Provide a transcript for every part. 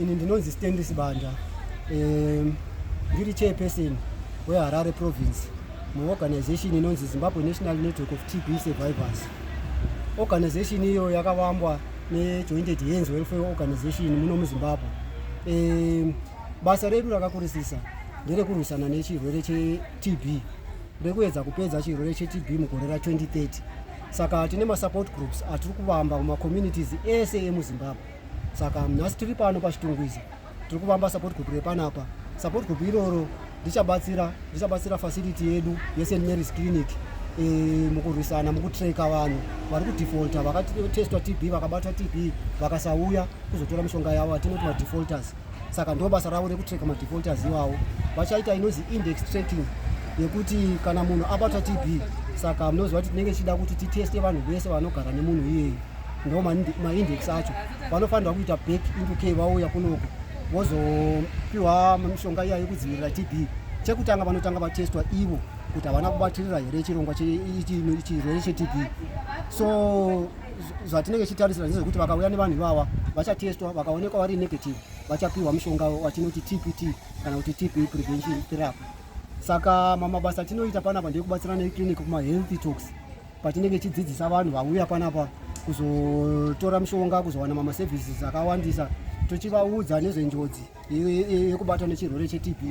Ini ndinonzi Stanley Sibanda um, ndiri chairperson weHarare province muorganization inonzi Zimbabwe National Network of TB Survivors. Organization iyo yakavambwa neJointed Hands Welfare Organization muno muZimbabwe. Um, basa redu rakakurisisa nderekurwisana nechirwere cheTB rekuedza kupedza chirwere cheTB mugore ra 2030 saka tine masupport groups atiri kuvamba kumacommunities ese emuzimbabwe saka nhasi tiri pano pachitungwiza tiri kuvamba support group repanapa support group iroro richabatsira richabatsira facility yedu yesent marys clinic e, mukurwisana mukutreka vanhu vari kudefaulta vakatestwa tb vakabatwa tb vakasauya kuzotora mishonga yavo atinoti madefaulters saka ndo basa ravo rekutracka madefaulters iwawo vachaita inozi index tracking yekuti kana munhu abatwa tb saka munoziva kuti tinenge tichida kuti titeste vanhu vese vanogara nemunhu iyeyi ndo maindex acho vanofanirwa kuita back into k vauya kunoko vozopiwa mishonga iya yekudzivirira tb chekutanga vanotanga vatestwa ivo kuti havana kubatirira here chirongwa chirwere chetb so zvatinenge tichitarisira ndezvekuti vakauya nevanhu ivava vachatestwa vakaonekwa vari negative vachapiwa mushonga watinoti tpt kana kuti tb prevention therapy saka mamabasa atinoita panapa ndekubatsira neclinic kumahealthy talks patinenge tichidzidzisa vanhu vauya panapa kuzotora mushonga kuzowana mamaservices akawandisa tochivaudza nezvenjodzi yekubatwa nechirwere chetb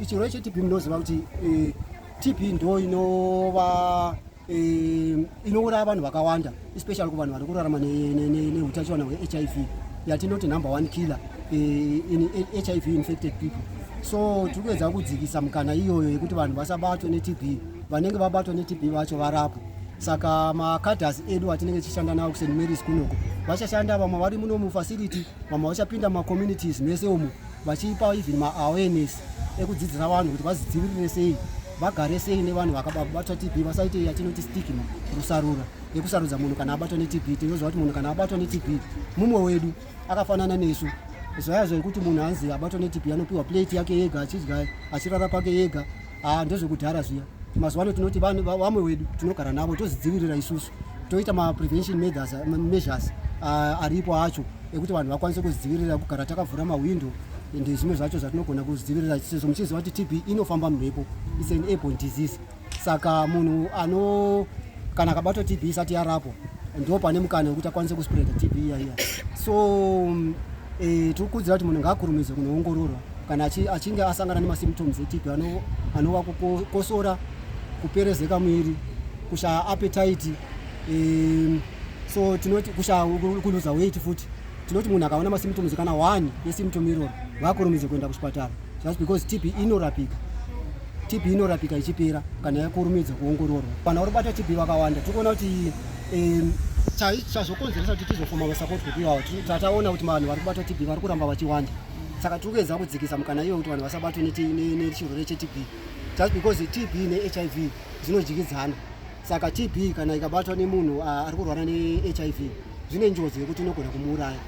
chirwere chetb munoziva kuti eh, tb ndo inova Ehm, inouraya vanhu vakawanda especially kuvanhu vari kurarama neutachiwana hwehiv yatinoti number one killer eh, in hiv infected people so tiri kuedza kudzikisa mukana iyoyo yekuti vanhu vasabatwe netb vanenge vabatwa netb vacho varapwe saka macaders edu atinenge tichishanda nawo kuseni maris kunoko vachashanda vamwe vari muno mufacility vamwe vachapinda mumacommunities mese umu vachipa even maawareness ekudzidzisa vanhu kuti vazidzivirire sei vagare sei nevanhu vakabatwa tb vasaite yatinoti stigma rusarura yekusarudza munhu kana abatwa netb tinoziva kuti munhu kana abatwa netb mumwe wedu akafanana nesu zvaya zvaikuti munhu anzi abatwa netb anopiwa plate yake yega achidya achirara pake yega ah, ndozvekudhara zviya mazuva ano tinoti vamwe wedu tinogara navo tozvidzivirira isusu toita maprevention measures ah, aripo acho ekuti vanhu vakwanise kuzvidzivirira kugara takavhura mahwindo and zvimwe zvacho zvatinogona kuzvidzivirira sezvo muchiziva kuti tb inofamba mumhepo its an airborne disease saka munhu ano kana akabatwa tb isati yarapwa ndo pane mukana wekuti akwanise kuspreda tb iya iya so um, e, tiri kukudzira kuti munhu ngaakurumidze kunoongororwa kana achinge asangana nemasymptoms etb anova kukosora kuperezeka muviri kushaya appetite um, so tinoti kushaya kuluza weight futi tinoti munhu akaona masymptoms kana one yesymptom iroro ngaakurumidze kuenda kuchipatara just because tb inorapika tb inorapika ichipera kana yakurumidza kuongororwa kana uri bata tb vakawanda tiri kuona kuti chazvokonzeresa kuti tizofoma vasapotwe kuiwawo tataona kuti vanhu vari kubata tb vari kuramba vachiwanda saka tiri kuedza kudzikisa mukana iyoyo kuti vanhu vasabatwe nechirwere chetb just because tb nehiv zvinodyikidzana Saka TB kana ikabatwa nemunhu ah, ari kurwara neHIV zvine njodzi yekuti inogona kumuuraya.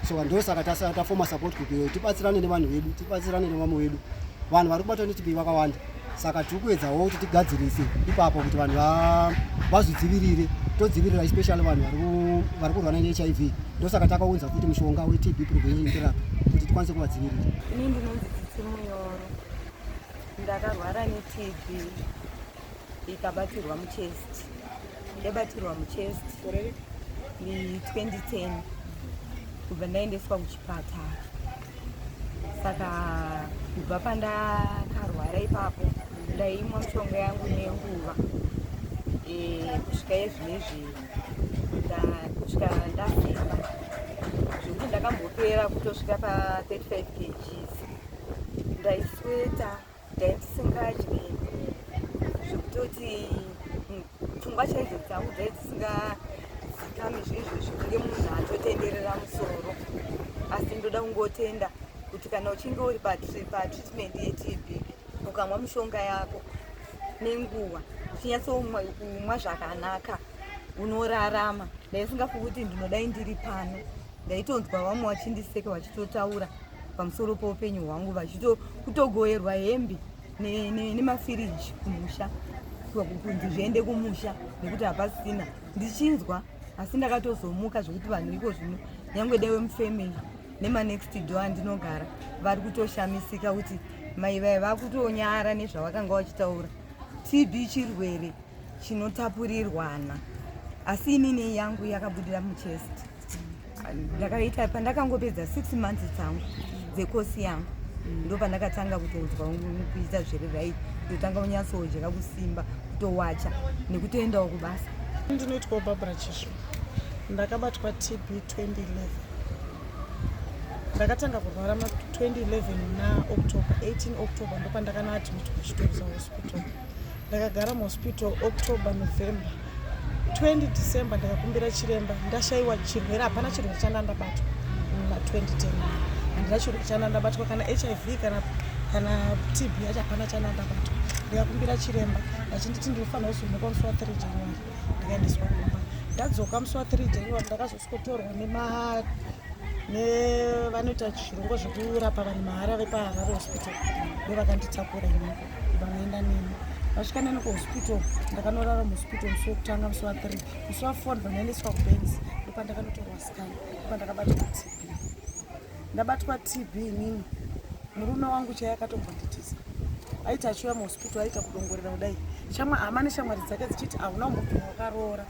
So ndosaka tafoma support group iyoyo tibatsirane nevanhu vedu, tibatsirane nevamwe vedu. Vanhu vari kubatwa neTB vakawanda. Saka tiri kuedzawo kuti tigadzirise ipapo kuti vanhu vazvidzivirire todzivirira especially vanhu vari kurwara neHIV. Ndosaka takaunza kuti mushonga weTB prevention therapy kuti tikwanise kuvadzivirira. Ini ndinonzi Tsitsi Muyoro. Ndakarwara neTB. ikabatirwa muchest yabatirwa muchest ne2010 kubva ndaendeswa kuchipatara saka kubva pandakarwara ipapo ndaimwa mushonga yangu nenguva e, kusvika yezvinezvi kusvika ndasimba zvekuti ndakambopera kutosvika pa 35 kgs ndaisweta ndaisingadye zvekutoti mm, pfungwa chaidzo dzangu dzai dzisingadzikami zveizvozvo kunge munhu atotenderera musoro asi ndoda kungotenda kuti kana uchinge uri patreatment yetb ukamwa mushonga yako nenguva uchinyatsoumwa zvakanaka unorarama ndaisingafi kuti ndinodai ndiri pano ndaitonzwa vamwe vachindiseka vachitotaura pamusoro poupenyu hwangu vachitokutogoerwa hembe nemafiriji kumusha kunzi zviende kumusha nekuti hapasina ndichinzwa asi ndakatozomuka zvekuti vanhu iko zvino nyange dewe mufamily nemanext do andinogara vari kutoshamisika kuti mai vaye vakutonyara nezvavakanga vachitaura tb chirwere chinotapurirwana asi inini yangu yakabudira muchest ndakaita pandakangopedza six months dzangu dzekosi yangu ndo pandakatanga kutonzwa kuita zviri right ndotanga unyatsoodyeka kusimba kutowacha nekutoendawo kubasa ndinoitwawo barbara chisvo ndakabatwa tb 2011 ndakatanga kurwara ma 2011 na october 18 october ndopandakanoadmitwa kuchitorisa hospital ndakagara muhospital october november 20 december ndakakumbira chiremba ndashaiwa chirwere hapana chirwere chandandabatwa muna 2010 handina chirwere chandandabatwa kana hiv kana kana tb yacho hapana chandandabatwa ndikakumbira chiremba achinditi ndinofanira kuzonekwa musi wa 3 january ndikaendeswa kumba ndadzoka musi wa 3 january ndakazosikotorwa nema nevanoita zvirongwa zvekurapa vanhu mahara vepaharare hospital ndovakanditakura imoko vanoenda neni vasvika neni kuhospital ndakanorara muhospital musi wekutanga musi wathree musi wafour ndinoendeswa kubens ndopandakanotorwa scan ndopandakabatwa tb ndabatwa tb inini murume wangu chaiye akatombonditiza aiti achiuya muhospital aita kudongorera kudai shamwa hama neshamwari dzake dzichiti hauna umupinhu wakaroora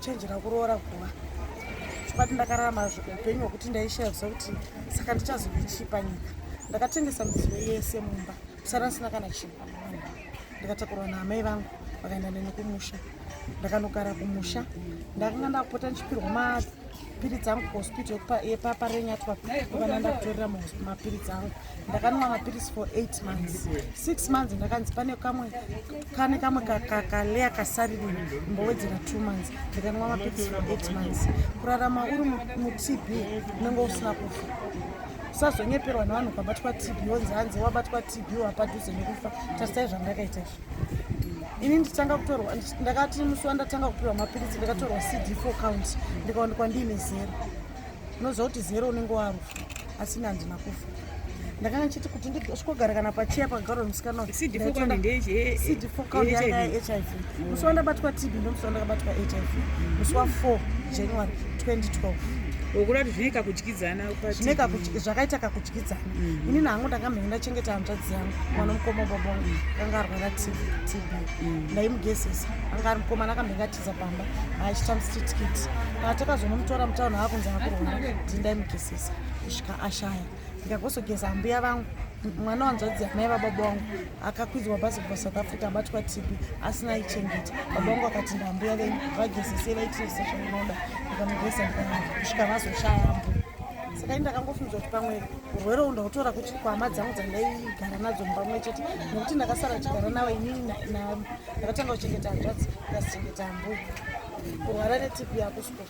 chenjera kuroora guva chibati ndakararama upenyu hwekuti ndaishaya zva kuti saka ndichazoichipa nyika ndakatengesa midziyo yese mumba kusara ndisina kana chinhu ndikatakurwa naamai vangu vakaenda neni kumusha ndakanogara kumusha ndakanga ndakupota ndichipirwa mapiritsi angu kuhospital yepaparenyatwa ukana ndakutorera mapiritsi angu ndakanwa mapiritsi for eight months six months ndakanzi pane kamwe kane kamwe kaleya kasariri mbowedzera two months ndikanwa mapiritsi for eight months kurarama uri mutb unenge usina kufa usazonyeperwa nevanhu ukabatwa tb wonzi hanzi wabatwa tb wapadhuze nekufa tasitai zvandakaita izvo ini nditanga kutorwa ndakati musi wandatanga kupiwa mapiritsi ndakatorwa cd four count ndikaonekwa ndiine zero unoziva kuti zero unenge warufa asi ini handina kufa ndakanga ndichiti kuti ndisvikogara kana pachiya pagaro musikana cd four count yanga yahiv musi wandabatwa tb ndomusi wandakabatwa hiv musi wa four january 2012 wokuda kuti zvinoika kudyidzana zvine kakutyi- zvakaita kakutyidzana Mhm. inini hangu ndanga mhenge ndachengeta hanzvadzi yangu mwana mukoma baba wangu akanga arwara tb TB. ndaimugezesa anga ari mukomana akamhenge atiza pamba aachita mstitskiti patakazonomutora mutauni aakunzi akurwara ndini ndaimugezesa kusvika ashaya ndikagozogeza ambuya vangu mwana wanzvadzi yamai vababa wangu akakwidzwa bhazi kubva south africa abatwa tipi asina aichengeta baba vangu akati ndambuya venyu vagezese vaitirese zvaunoda ndikamugeza kusvika vazoshaya mbu saka ini ndakangofungidzwa kuti pamwe urwere u ndautora kuti kwama dzangu dzandaigara nadzo mumba mwe chete nekuti ndakasara kuchigara navo inini ndakatanga kuchengeta hanzvadzi ndikazichengeta mbu kurwara netipi yakusukura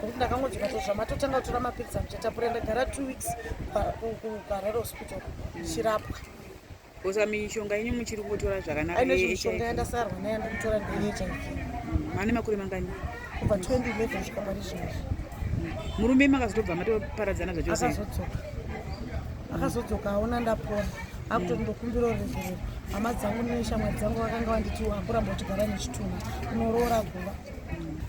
kuti ndakangodzoka to zvamatotanga kutora mapiritsi amuchatapura ndagara two weeks kuharare hospital ndichirapwa kosa mishonga yenyu muchiri kutora zvakanakaimishonga yandasarwa nayo ndikutora ndeyehiv mane mm, makore mangani kubva 2011 svika pari zvinozvi murume makazotobva matoparadzana zvachose akazodzoka akazodzoka aona ndapona akuti ndokumbira ruregerero hama dzangu neshamwari dzangu vakanga vanditi akuramba kutigara nechitunha unoroora guva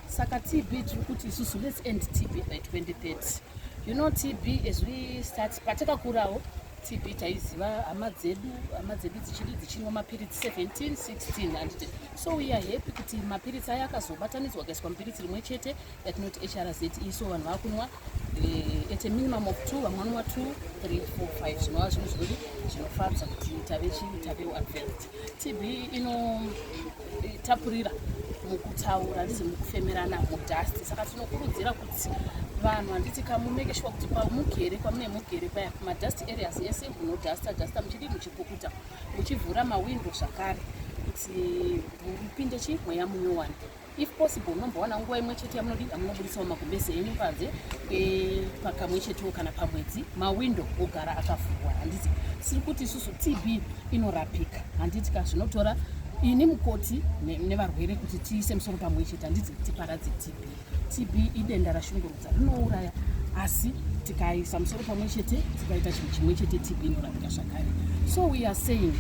saka tb tiri kuti isusu let's end tb by 2030 you know tb as we start patakakurawo tb taiziva hama dzedu hama dzedu dzichidi dzichinwa mapiritsi 17 16 handiti so we are happy kuti mapiritsi aya akazobatanidzwa akaiswa mupiritsi rimwe chete yatinoti hrz iso vanhu vakunwa at a minimum of two vamwe vanova two three four five zvinova zvinhu zvekuti zvinofadza kuti tave chii tavewo advanced tb inotapurira mukutaura handizi mukufemerana mudust saka tinokurudzira kuti vanhu handiti kamumeke shuwa kuti pamugere kwamune mugere paya madust areas ese munodusta dusta muchidii muchipukuta muchivhura mawindo zvakare kuti mupinde chii mweya munyowani if possible unombowana nguva imwe chete yamunodida munoburitsawo magumbeze enyu panze eh, pakamwe chetewo kana pamwedzi mawindo ogara akavhurwa handiti siri kuti isusu tb inorapika handiti ka zvinotora ini mukoti nevarwere kuti tiise musoro pamwe chete handiti tiparadze tb tb idenda rashungurwa rinouraya asi tikaisa musoro pamwe chete tikaita chinhu chimwe chete tb inorapika zvakare so we are saying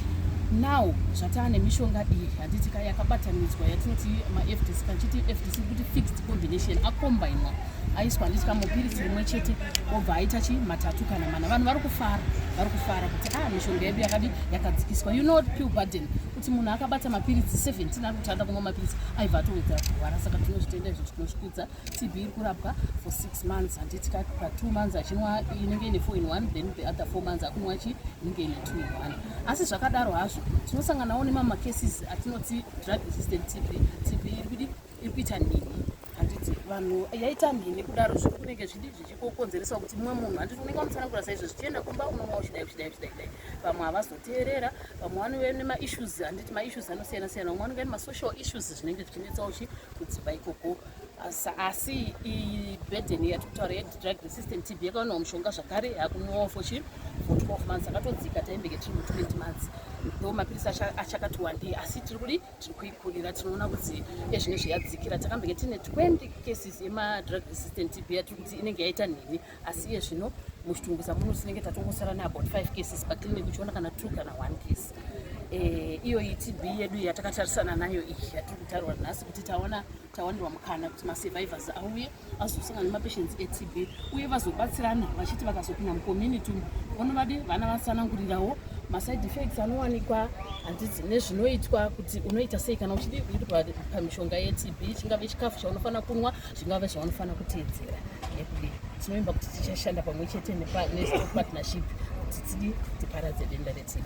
now zvataa nemishonga iyi handiti ka yakabatanidzwa yatinoti mafdc kachiti fdc kuti fixed combination akombainwa aiswa handiti ka mupiritsi rimwe chete obva aita chi matatu kana mana vanhu vari kufara vari kufara kuti a ah, mishonga yedu yakadi yakadzikiswa you know pill burden kuti munhu akabata mapiritsi 17 ari kutanda kumwa mapiritsi aibva atowedzera kurwara saka tinozvitenda izvo tinozvikudza TB iri kurapwa for six months handiti ka pa two months achinwa inenge ine four in one then the other four months akunwa chi inenge ine two in one asi zvakadaro hazvo tinosanganawo nemamacases atinoti drug resistant TB TB iri kudi iri kuita nini handiti vanhu yaita mhini kudaro zviri kunenge zvidi zvichikokonzeresawo kuti mumwe munhu handiti unenge wamutsanangura saizvo zvichienda kumba unomawo chidai chidai chidai chidai vamwe havazoteerera vamwe vanove nemaissues handiti maissues anosiyana siyana vamwe vanenge nemasucial issues zvinenge zvichinetsawo chi kudzimba ikoko asi iyi burden yatiri kutaura yedrug resistant tb yakaonawo mushonga zvakare yakunwawo for chi for 12 months akatodzika taimbenge tiri mu20 months ndo mapirisi achakati wandei asi tiri kudi tiri kuikurira tinoona kuti ezvinezve yadzikira takambenge tiine 20 cases yemadrug resistant tb yatiri kuti inenge yaita nhinhi asi iye zvino muchitunguza muno tinenge tatongosara neabout five cases paclinic uchiona kana two kana one case eh, iyo iyi tb yedu yatakatarisana nayo iyi yatiri kutarirwa nhasi kuti taona tawanirwa mukana kuti masurvivors auye azosangana nemapatients etb uye vazobatsirana vachiti vakazopinda mucommunity umu vonovadi vana vasanangurirawo maside effects anowanikwa handiti nezvinoitwa kuti unoita sei kana uchidii kuitwa pamishonga yetb chingave chikafu chaunofanira kunwa zvingave zvavanofanira kuteedzera nekudii tinovimba kuti tichashanda pamwe chete nepartnership kuti tidii tiparadze denda retb